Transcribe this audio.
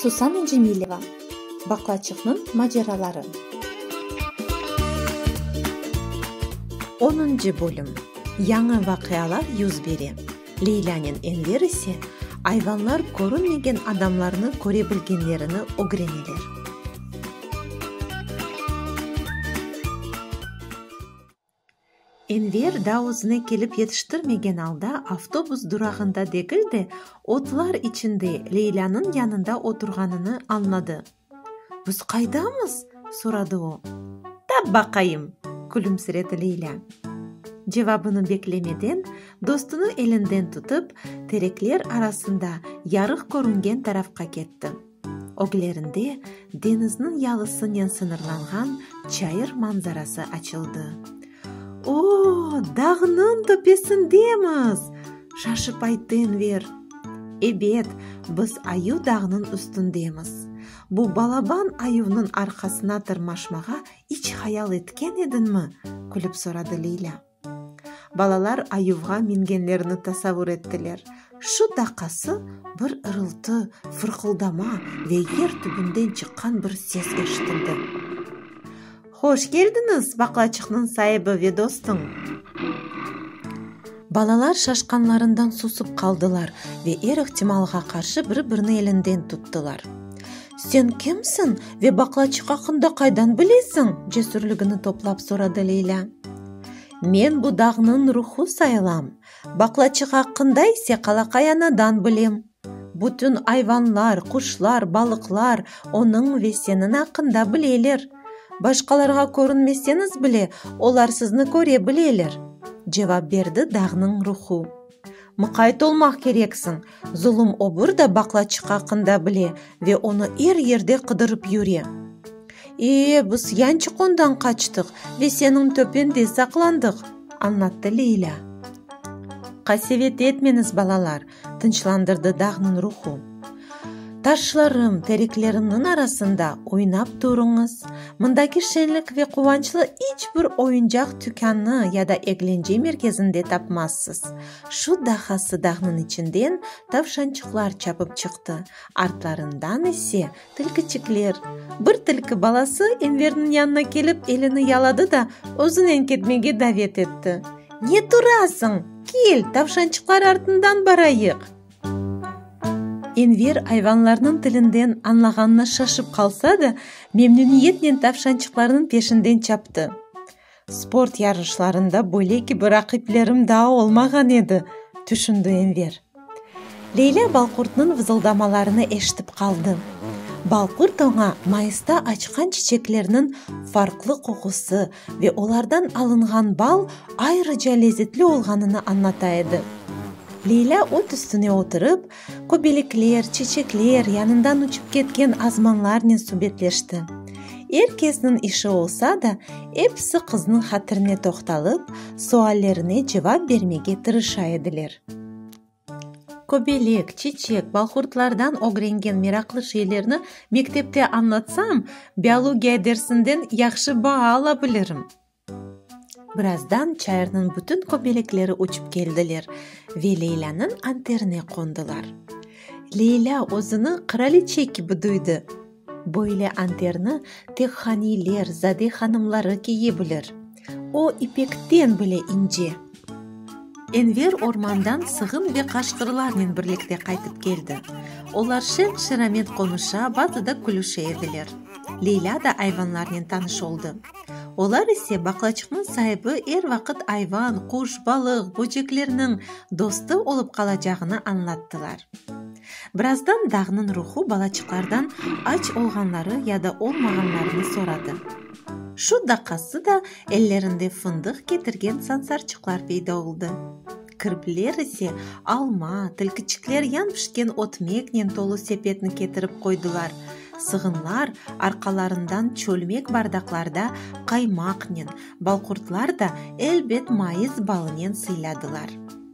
Susana Cemileva, Baqlaçıqnıñ maceraları. Onıncı bölüm. Yañı vaqialar yüz bere. Leylânen Enver ise ayvanlar körünmegen adamlarnı köre bilgenlerini ögreneler. Enver daa özüne kelip yetiştirmegen alda avtobus durağında degil de, otlar içinde Leylânıñ yanında oturğanını añladı. Biz qaydamız? soradı o. Tap baqayım! külümsiredi Leylân. Cevabını beklemeden, dostunıñ elinden tutıp, terekler arasında yarıq körüngen tarafqa ketti. Öglerinde deñizniñ yalısınen sıñırlanğan çayır manzarası açıldı. Oo, dağnıñ töpesindemiz! şaşıp ayttı Enver. Ebet, biz Ayuv dağnıñ üstündemiz. Bu balaban ayuvnıñ arqasına tırmaşmağa iç hayal etken ediñmi? külip soradı Leylâ. Balalar ayuvğa mingenlerini tasavur ettiler. Şu daqası bir ırıltı, fırqıldama ve yer tübünden çıqqan bir ses eşitildi. Hoş keldiñiz, baqlaçıqnıñ saibi ve dostuñ! Balalar şaşqanlarından susıp qaldılar ve er ihtimalğa qarşı bir-birini elinden tuttılar. Sen kimsiñ ve baqlaçıq aqqında qaydan bilesiñ? cesürligini toplap soradı Leylâ. Men bu dağnıñ ruhu sayılam, baqlaçıq aqqında ise qalaqay anadan bilim. Bütün ayvanlar, quşlar, balıqlar onıñ ve seniñ aqqında bileler. Başqalarğa körünmeseñiz bile, olar sizni köre bileler, cevap berdi dağnıñ ruhu. Muqayt olmaq kereksiñ, zulum obur da baqlaçıq aqqında bile ve onı er yerde qıdırıp yüre. E, biz yançıq ondan qaçtıq ve seniñ töpende saqlandıq, añlattı Leylâ. Qasevet etmeñiz, balalar, tınçlandırdı dağnıñ ruhu. Taşlarım, tereklerimniñ arasında oynap turuñız. Mındaki şenlik ve quvançlı iç bir oyuncaq tükânı ya da eglence merkezinde tapmazsız. Şu dahası dağnıñ içinden tavşançıqlar çapıp çıqtı, artlarından ise, tilkiçikler. Bir tilki balası Enverniñ yanına kelip, elini yaladı da, özünen ketmege davet etti. Ne turasıñ, kel, tavşançıqlar artından barayıq! Enver ayvanlarnıñ tilinden añlağanına şaşıp qalsa da, memnüniyetnen tavşançıqlarnıñ peşinden çaptı. Sport yarışlarında böyle kibi raqiplerim daa olmağan edi, tüşündi Enver. Leylâ balqurtnıñ vızıldamalarını eşitip qaldı. Balqurt oña mayısta açqan çiçeklerniñ farqlı qoqusı, Ve olardan alınğan bal ayrıca lezetli olğanını añlata edi. Leylâ ot üstüne oturıp, köbelikler, çeçekler, yanından uçıp ketken azmanlarnen subetleşti. Er kesniñ işi olsa da, episi qıznıñ hatirine toqtalıp, suallerine cevap bermege tırışa ediler. Köbelek, çiçek, balhurtlardan ögrengen meraqlı şeylerni mektepte añlatsam, biologiya dersinden yahşı baa ala bilirim. Birazdan çayırnıñ bütün köbelekleri uçıp keldiler ve Leylâniñ anterine qondılar. Leylâ özüni qıraliçe kibi duydı. Böyle anterni tek haniler, zade hanımları kiye bilir. O, ipekten bile ince. Enver ormandan sığın ve qaşqırlarnen birlikte qaytıp keldi. Olar şen-şeramet qonuşa, bazı da külüşe ediler. Leyla da ayvanlarnen tanış oldı. Olar ise baqlaçıqnıñ saibi er vaqıt ayvan, quş, balıq, böceklerniñ dostu olıp qalacağını añlattılar. Birazdan dağnıñ ruhu balaçıqlardan aç olğanları ya da olmağanlarını soradı. Şu daqası da ellerinde fındıq ketirgen sansarçıqlar peyda oldı. Kirpiler ise alma, tilkiçikler yan pişken otmeknen tolu sepetni ketirip qoydılar, sığınlar arqalarından çölmek bardaqlarda qaymaqnen, balqurtlar da, elbet, mayıs balınen sıyladılar.